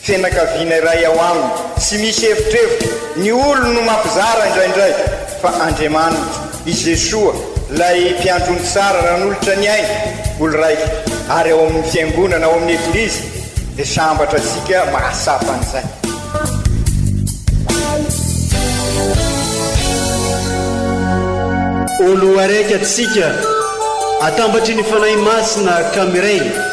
Fianakaviana iray ao aminy. Tsy misy evitrevitra, ny olony no mampizara indraindray, fa Andriamaniny, i Jesoa, ilay Mpiandry ny tsara nanolotra ny ainy, olon-raitra, ary ao amin'ny Fiangonana, ao amin'ny Eglizy, dia sambatra antsika mahatsapa an'izay. Olo araiky atsika, atambatry ny Fanahy Masina ka miray.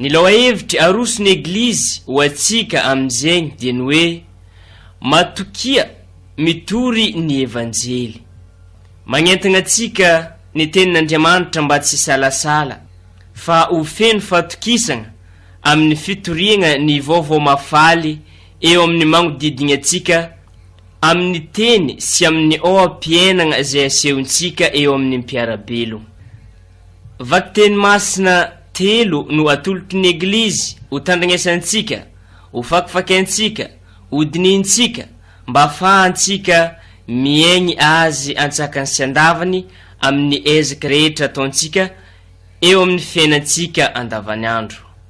Ny lohahevitry aroso ny Eglizy ho antsika amin' zegny dia ny hoe matokia mitory ny Evanjely. Magnentagna antsika ny Tenin' Andriamanitra mba tsy hisalasala fa ho feno fatokisagna amin' ny fitoriagna ny Vaovao Mahafaly eo amin' ny magnodidigny antsika amin' ny teny sy amin' ny oha-piainagna zay asehontsika eo amin' ny mpiara-belogna. Vakiteny masina telo no atolotry ny Eglizy ho tandrignesantsika, ho fakifakiantsika, ho dinihintsika mba hahafahantsika miaigny Azy antsakany sy andavany amin' ny ezaky rehetra ataontsika eo amin' ny fiainantsika andavanandro.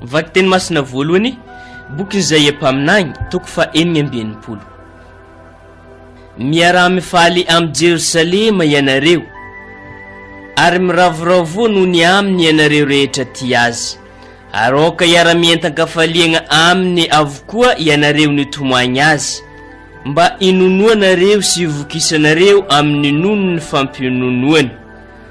Vakiteny masina voalohany, bokin'i Izaia mpaminany, toko fahenina amby enimpolo. Miaraha-mifaly amin'i Jerosalema ianareo, ary miravoravoa noho ny aminy ianareo rehetra tia azy, ary aoka hiara-mientan-kafaliagna aminy avokoa ianareo nitomoagny azy, mba hinonoanareo sy hivokisanareo amin'ny nonon'ny fampiononoany.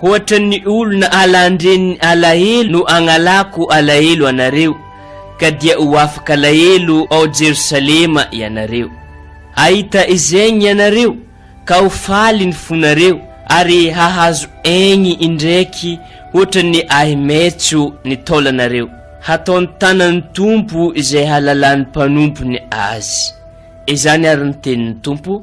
Hoatran'ny olona alan-dreniny alahelo no agnalako alahelo anareo, ka dia ho afaka alahelo ao Jerosalema ianareo. Hahita izegny ianareo, ka ho faly ny fonareo, ary hahazo aigny indraiky hoatran'ny ahi-maitso ny taolanareo. Hataon'ny tanan'ny Tompo izay halalan'ny mpanompony azy. Izany àry ny tenin'ny Tompo.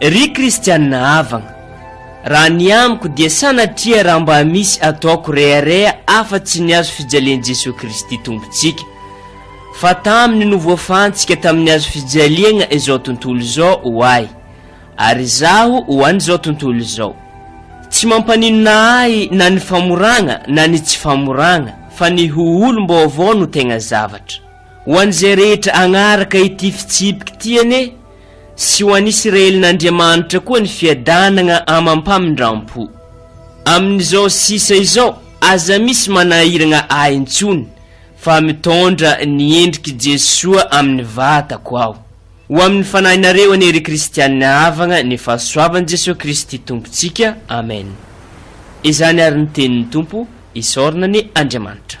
Ry kristianina havagna, raha ny amiko dia sanatria raha mba misy ataoko rehareha afa-tsy ny hazo fijalian'i Jesoa Kristy Tompontsika, fa taminy no voafahantsika tamin'ny hazo fijaliagna izao tontolo izao ho ahy, ary izaho ho an'izao tontolo izao. Tsy mampaninona ahy na ny famoragna na ny tsy famoragna, fa ny ho olom-baovao no tegna zavatra. Ho an'izay rehetra agnaraka ity fitsipiky ty anie, sy ho an' Isiraelin' Andriamanitra koa ny fiadanagna amam-pamindram-po. Amin' izao sisa izao, aza misy manahiragna ahy intsony, fa mitondra ny endrik' i Jesoa amin' ny vatako aho. Ho amin' ny fanahinareo anie ry Kristiana havagna ny fahasoavan' Jesoa Kristy Tompontsika. Amena. Izany ary ny tenin' ny Tompo, isaorana anie Andriamanitra.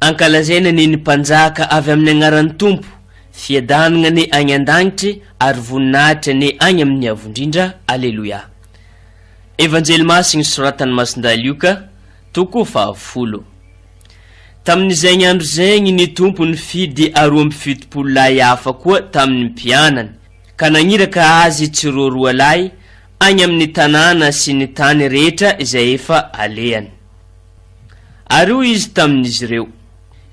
Ankalazaina anie ny mpanjaka avy amin'ny agnaran'ny Tompo, fiadanagna anie agny an-dagnitry ary voninahitry anie agny amin'ny Avondrindra, Aleloia. Evanjely Masigny soratan'i Masindahy Lioka, toko fahafolo. Tamin'izegny andro zegny ny Tompo nifidy aroa amby fitopolo lahy hafa koa tamin'ny mpianany, ka nagniraka azy tsiroa roalahy any amin'ny tanàna sy ny tany rehetra izay efa alehany. Ary hoy izy tamin'izy ireo,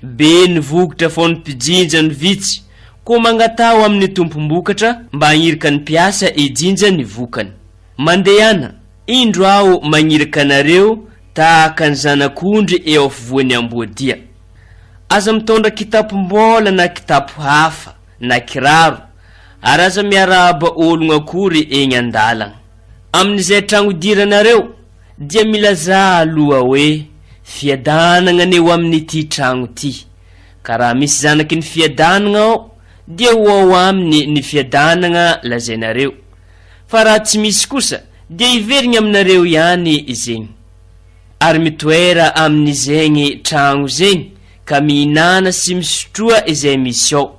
Be ny vokitra fao ny mpijinja no vitsy, koa mangataha ho amin'ny tompom-bokatra mba hahirika ny mpiasa hijinja ny vokany. Mandehana, indro aho magniraka anareo tahaka ny zanak'ondry eo afovoan'ny amboadia. Aza mitondra kitapom-bola na kitapo hafa na kiraro ary aza miarahaba ologno akory egny andalagna, amin'izay tragno idiranareo dia milazà aloha hoe fiadanagna anie ho amin'ity tragno ty, ka raha misy zanaky ny fiadanagna ao dia ho ao aminy ny fiadanagna lazainareo, fa raha tsy misy kosa dia hiverigny aminareo ihany zegny, ary mitoera amin'izegny tragno zegny ka mihinana sy misotroa izay misy ao,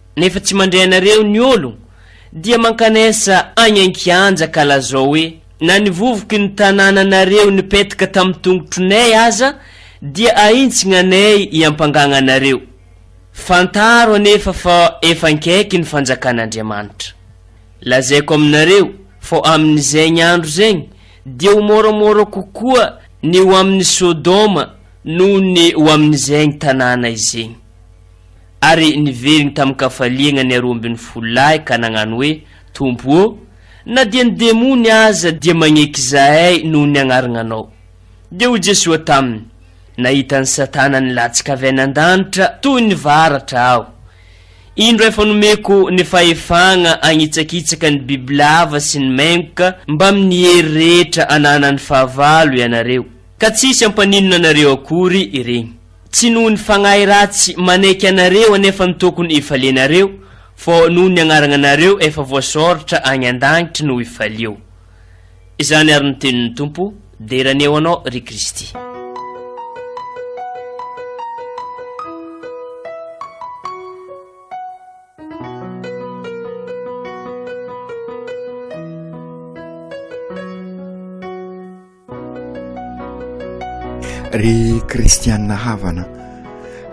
Nefa tsy mandre anareo ny olo dia mankanesa agny ankianja ka lazao hoe na ny vovoky ny tanananareo nipetaka tamy tongotronay aza dia ahintsignagnay iampangagnanareo. Fantaro anefa fa efa ankaiky ny fanjakan'Andriamanitra. Lazaiko aminareo fô aminy zegny andro zegny dia ho môramôra kokoa ny ho aminy Sodoma noho ny ho aminy zegny tanàna izegny. Ary niveriny tamin-kafaliagna ny aroa ambin'ny folo lahy ka nagnano hoe, Tompo ô, na dia ny demony aza dia magneky izahay noho ny agnaragnanao. Dia hoy Jesoa taminy, Nahita an'i Satana nilatsaka avy any an-danitra toy ny varatra aho. Indro efa nomeko ny fahefagna agnitsakitsaka ny bibilava sy ny mengoka mbamin'ny hery rehetra ananan'ny fahavalo ianareo, ka tsisy hampaninona anareo akory iregny. Tsy noho ny fagnahy ratsy manaiky anareo anefa no tokony hifalianareo, fa noho ny agnaragnanareo efa voasoratra agny an-dagnitry no hifalio. Izany ary no tenin'ny Tompo, Dera anie ho anao, ry Kristy. Ry kristianina havana,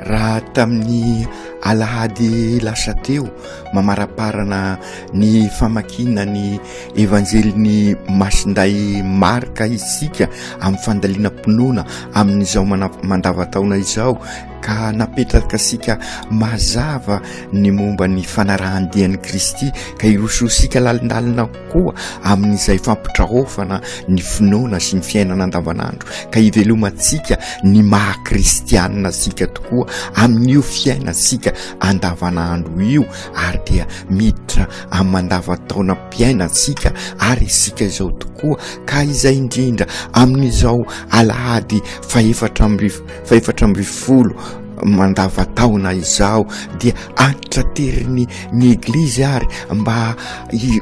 raha tamin'ny alahady lasa teo mamaraparana ny famakiana ny evanjelin'ny masinday marka isika amin'ny fandalinam-pinoana amin'izao mandavataona izao ka napetraka sika mazava ny momba ny fanarahan-dian'i kristy ka irososika lalindalina koa amin'izay fampitraofana ny finoana sy ny fiainana andavanandro ka hivelomantsika ny maha kristianina antsika tokoa amin'io fiainantsika andavanandro io ary dia miditra amin'ny mandavantaonam-piainantsika ary isika izao tokoa ka izay indrindra amin'izao alahady fahefatra amby fahefatra amby folo mandavataona izaho dia antitraterin' ny eglizy ary mba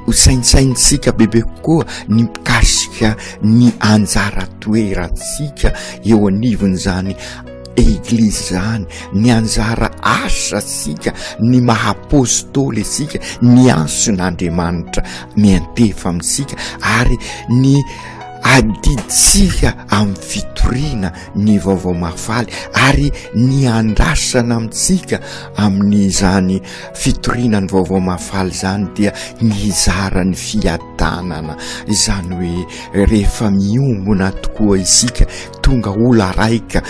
hosaintsaintsika bebe kokoa ny mikasika ny anjara toerantsika eo anivon'izany eglizy izany ny anjara asa sika ny maha apôstôly isika ny anson' Andriamanitra miantefa amintsika ary ny adidintsika amin'ny fitoriana ny vaovao mahafaly ary ny andrasana amintsika amin'izany fitoriana ny vaovao mahafaly izany dia ny hizara ny fiadanana izany hoe rehefa miombona tokoa isika tonga ola raika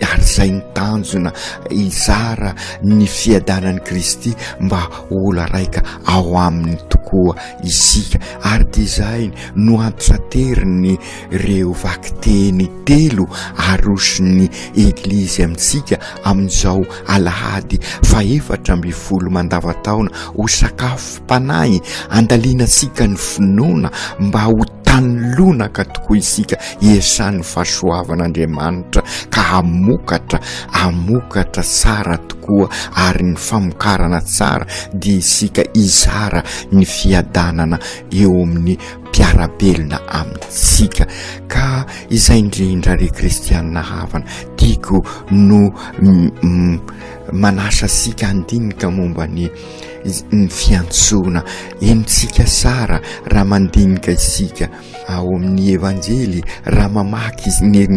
ary izay ny tanjona hizara ny fiadanan'i Kristy mba ola raika ao aminy tokoa isika ary dia izay no ampisateriny Ireo vakiteny telo aroson'ny Eglizy amintsika amin'izao Alahady fahefatra ambin'ny folo mandavantaona ho sakafom-panahy andalianantsika ny finoana mba ho tany lonaka tokoa isika hiasan'ny fahasoavan'Andriamanitra ka hamokatra, hamokatra tsara tokoa ary ny famokarana tsara dia isika hizara ny fiadanana eo amin'ny mpiara-belona amintsika ka izay indrindra ry kristianina havana tiako no manasa sika handinika momba ny ny fiantsoana enontsika sara raha mandinika isika ao amin'ny evanjely raha mamaky ny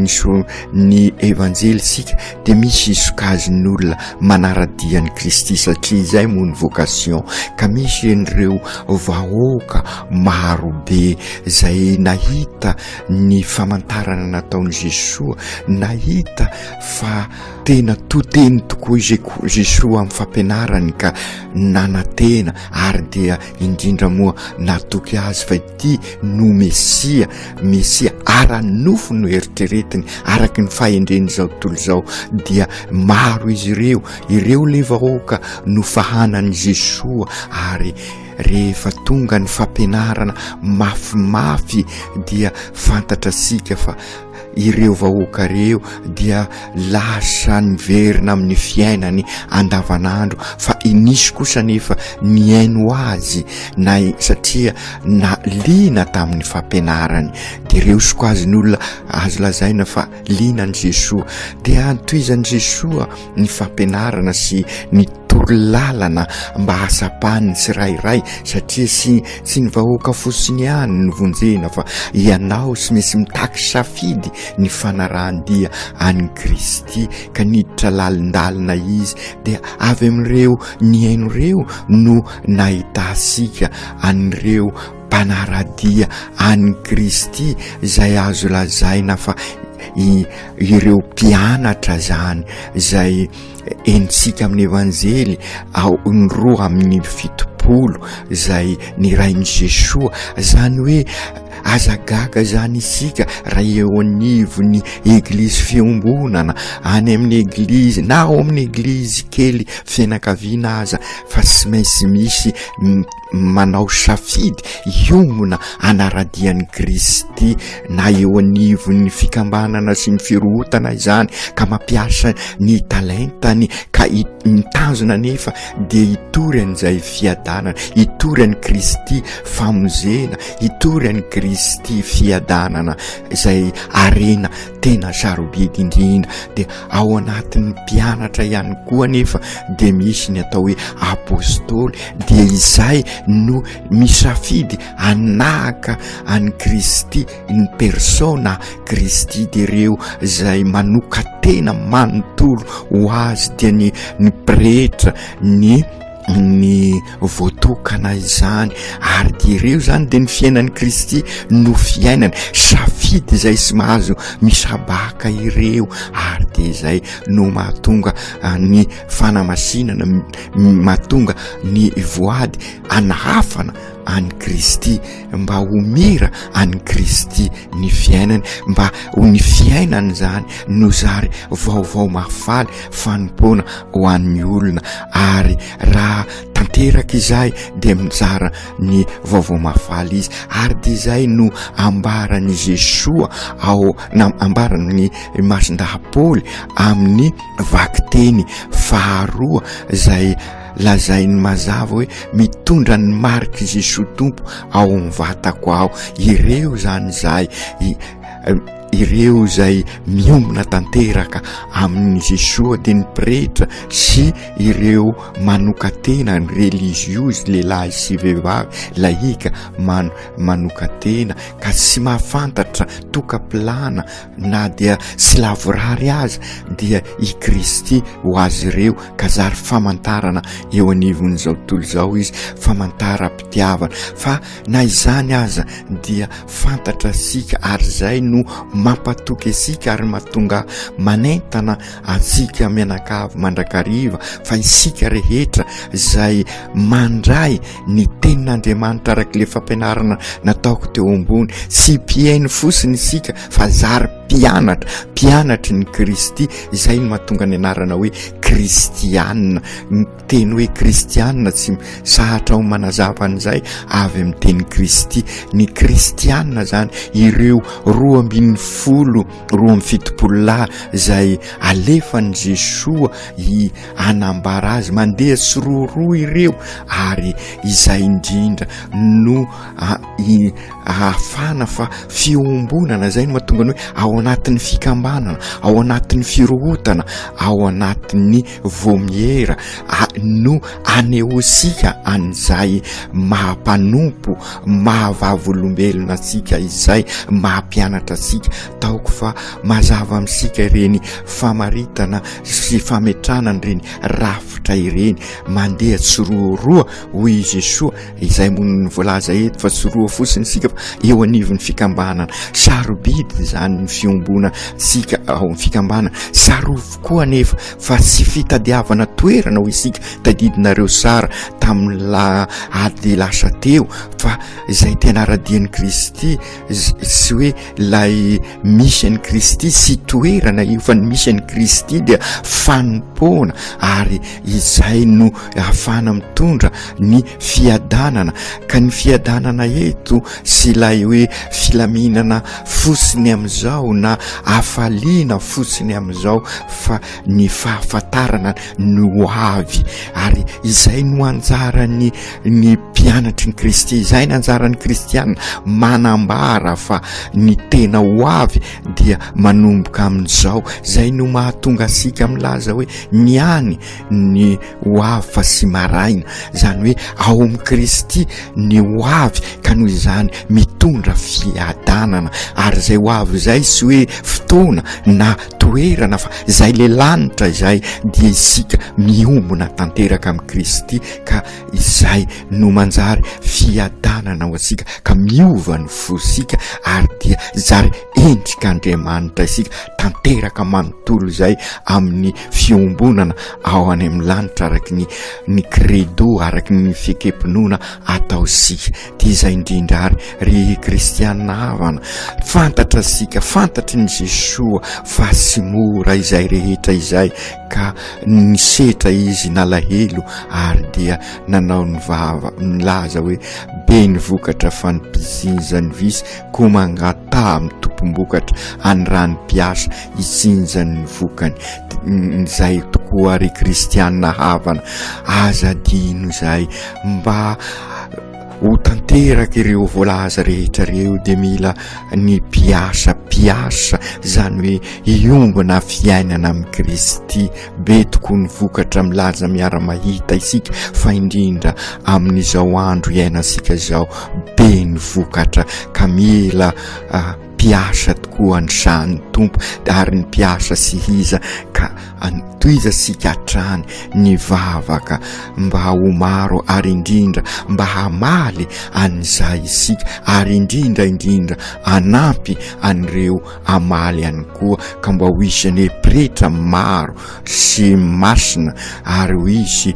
ny evanjely sika dia misy sokajiny olona manaradia an'i Kristy satria izay moa ny vocation ka misy ireo vahoaka marobe izay nahita ny famantarana nataon'i Jesoa nahita fa tena toteny tokoa izay koa Jesoa amin'ny fampianarany ka nanatena ary dia indrindra moa natoky azy fa Kristy no Mesia, Mesia ara-nofo no eritreretiny araka ny fahendren'izao tontolo izao dia maro izy ireo, ireo le vahoaka no fahanan'i Jesoa ary rehefa tonga ny fampianarana mafimafy dia fantatrasika fa ireo vahoaka ireo dia lasa niverina amin'ny fiainany andavanandro fa inisy kosa nefa nihaino azy na satria na liana tamin'ny fampianarany dia ireo sokazin'olona azo lazaina fa liana an'i Jesoa dia antohizan'i Jesoa ny fampianarana sy ny torolalana mba hasapan'ny tsirairay satria sy tsy ny vahoaka fosiny ihany ny vonjena fa ianao sy misy mitaky safidy ny fanarahan-dia an'i Kristy ka niditra lalindalina izy dia avy amin'ireo nihaino ireo no nahitasika an'ireo mpanara-dia an'i Kristy izay azo lazaina fa ireo mpianatra izany izay henontsika amin'ny Evanjely ao ny roa amin'ny fitopolo izay nirain'i Jesoa, izany hoe aza gaga izany isika raha eo anivon'ny Eglizy fiombonana any amin'ny Eglizy na ao amin'ny Eglizy kely fianakaviana aza fa tsy maintsy misy manao safidy hiongona hanaradia an'i Kristy na eo anivon'ny fikambanana sy ny firohotana izany ka mampiasa ny talentany ka mitazona nefa dia hitory an'izay fiadanana hitory an'i Kristy famonjena hitory an'i Kristy fiadanana izay arena Tena sarobidy indrindra, dia ao anatin'ny mpianatra ihany koa anefa dia misy ny atao hoe apostoly, dia izay no misafidy hanahaka an'i Kristy in persona Christi, dia ireo izay manoka-tena manontolo ho azy dia ny ny pretra, ny. ny voatokana izany ary de ireo zany de ny fiainan'i Kristy no fiainany safidy izay sy mahazo misabaka ireo ary de izay no mahatonga ah, ny fanamasinana mahatonga ny voady anahafana an'i Kristy, mba ho mira an'i Kristy ny fiainany, mba ho ny fiainany izany no zary vaovao mahafaly fanompoana ho an'ny olona, ary raha tanteraka izay dia mizara ny vaovao mahafaly izy, ary dia izay no ambaran'i Jesoa ao, na ambaran'ny Masindahy Paoly amin'ny vakiteny faharoa izay. Lazainy mazava hoe mitondra ny marik'i Jesoa Tompo ao amin'ny vatako aho. Ireo izany izahay ireo izay miomina tanteraka amin'i Jesoa dia ny pretra sy ireo manoka-tena ny religiozy lehilahy sy vehivavy lahika man- manoka-tena ka tsy mahafantatra toka-pilana na dia tsy lavorary aza dia i Kristy ho azy ireo ka zary famantarana eo anivon'izao tontolo izao izy, famantaram-pitiavana fa na izany aza dia fantatra antsika ary izay no mampatoky antsika ary mahatonga manentana antsika mianakavy mandrakariva fa isika rehetra izay mandray ny tenin'Andriamanitra araka ilay fampianarana nataoko teo ambony. Tsy mpihaino fosiny isika fa zary mpianatra, mpianatry ny Kristy, izay no mahatonga ny anarana hoe Kristianina. Ny teny hoe Kristianina tsy sahatra ao manazava an'izay avy amin'ny teny Kristy. Ny Kristianina zany ireo roa ambin'ny folo, roa amby fitopolo lahy izay alefan'i Jesoa i hanambara azy mandeha tsiroaroa ireo ary izay indrindra no ahafana fa fiombonana izay no mahatonga ny hoe ao anatin'ny fikambanana ao anatin'ny firohotana ao anatin'ny vomiera no anehoantsika an'izay maha-mpanompo mahavavolombelona antsika izay maha-mpianatra antsika taoko fa mazava amintsika ireny famaritana sy fametrahana an'ireny rafitra ireny mandeha tsiroaroa hoy i Jesoa izay moniny voalaza eto fa tsiroa fotsiny isika fa eo anivon'ny fikambanana sarobidy izany ny fiombona tsika ao amin'ny fikambanana sarovy koa anefa fa tsy fitadiavana toerana ho isika tadidinareo sara tamin'ny la ady lasa teo fa izay tena aradian'i Kristy sy hoe ilay misy an'i kristy sy toerana efan'ny misy an'i kristy dia fanompoana ary izay no afana mitondra ny fiadanana ka ny fiadanana eto sy ilay hoe filaminana fosiny amin'izao na afaliana fosiny amin'izao fa ny fahafantarana no avy ary izay no anjaran'ny ny mpianatry ny Kristy. Izay ny anjaran'ny Kristianina, manambara fa ny tena ho avy dia manomboka amin'izao. Izay no mahatonga antsika milaza hoe ny any ny ho avy fa sy maraina. Izany hoe ao amin'i Kristy ny ho avy ka noho izany mitondra fiadanana. Ary izay ho avy izay sy hoe fotoana na toerana fa izay le lanitra izay dia isika miombona tanteraka amin'i Kristy. ka izay no manjary fiadanana ho antsika ka miova ny fosika ary dia zary endrik'Andriamanitra isika tanteraka manontolo izay amin'ny fiombonana ao any amin'ny lanitra araky ny ny credo araky ny fikepinoana atao sika dia izay indrindra ary ry kristianina havana fantatra sika fantatry ny Jesoa fa sy mora izay rehetra izay Ka nisetra izy nalahelo ary dia nanao ny vava milaza hoe, Be ny vokatra fa ny mpizinja ny visy koa mangataha amin'ny tompom-bokatra any raha ny mpiasa hitsinja ny vokany. Izay tokoa ry kristiana havana, aza adino izay mba Ho tanteraka ireo voalaza rehetra ireo dia mila ny mpiasa mpiasa, izany hoe hiombona fiainana amin'i Kristy. Be tokoa ny vokatra milaza miara-mahita isika fa indrindra amin'izao andro iainantsika izao be ny vokatra ka mila Mpiasa tokoa an dra ny Tompo ary ny mpiasa sy hiza ka an tohiza sika hatrany ny vavaka mba ho maro ary indrindra mba hamaly an izay isika ary indrindra indrindra anampy an ireo amaly an koa ka mba ho isan e pretra maro sy masina ary ho isy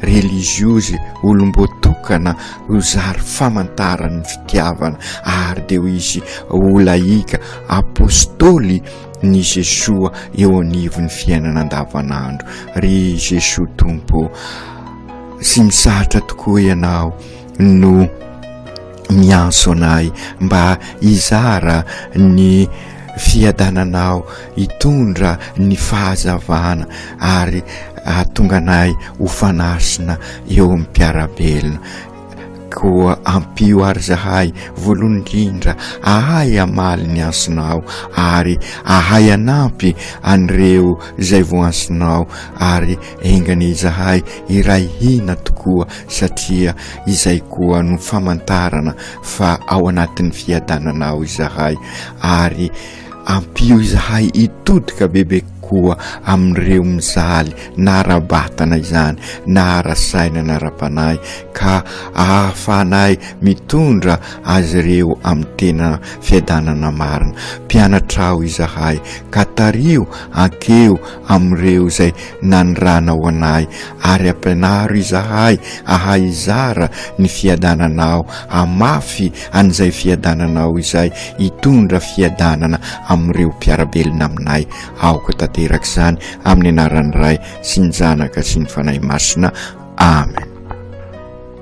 relijiozy, olom-boatokana, ho zary famantaran'ny fitiavana, ary dia ho izy ho lahika, apôstôly, ny Jesoa eo anivon'ny fiainana andavanandro. Ry Jesoa Tompo ô, tsy mitsahatra tokoa Ianao no miantso anay mba hizara ny fiadananao, hitondra ny fahazavana ary hahatonga anay ho fanasina eo amin'ny mpiara-belona. Koa ampio àry izahay, voalohany indrindra, hahay hamaly ny antsonao ary hahay hanampy an'ireo izay voantsinao ary Enganie izahay iray hina tokoa satria izay koa no famantarana fa ao anatin'ny fiadananao izahay ary ampio izahay hitodika bebe kokoa amin'ireo mijaly na ara-batana izany na ara-saina na ara-panahy ka ahafahanay mitondra azy ireo amin'ny tena fiadanana marina. Mpianatrao izahay ka tariho ankeo amin'ireo izay naniranao anay, ary ampianaro izahay hahay hizara ny fiadananao, hamafy an'izay fiadananao izay hitondra fiadanana amin'ireo mpiara-belona aminay. Aoka tanteraka izany amin'ny anaran'ny Ray sy ny Zanaka sy ny Fanahy Masina. Amen.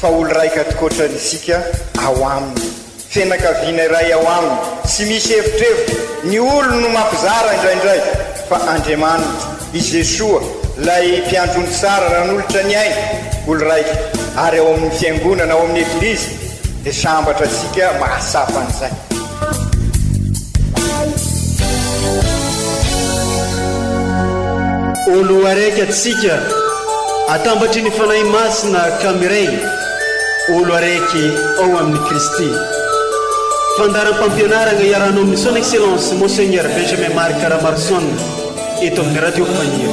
Fa olo-raika atikoatrany isika ao aminy. Fianakaviana iray ao aminy. Tsy misy evitrevitra. Ny olony no mampizara indraindray. Fa Andriamanitra, i Jesoa, ilay Mpiandry ny tsara nanolotra ny ainy, olo-raika, ary ao amin'ny Fiangonana, ao amin'ny Eglizy, dia sambatra antsika mahatsapa an'izay. Oloaraiky atsika atambatry ny Fanahy Masina ka miray olo araiky ao amin'ny Kristy. Fandaharam-pampianarana iarahanao amin'ny Son Excellence Monseigneur Benjamin Marc Ramarson eto amin'ny Radio Faniro.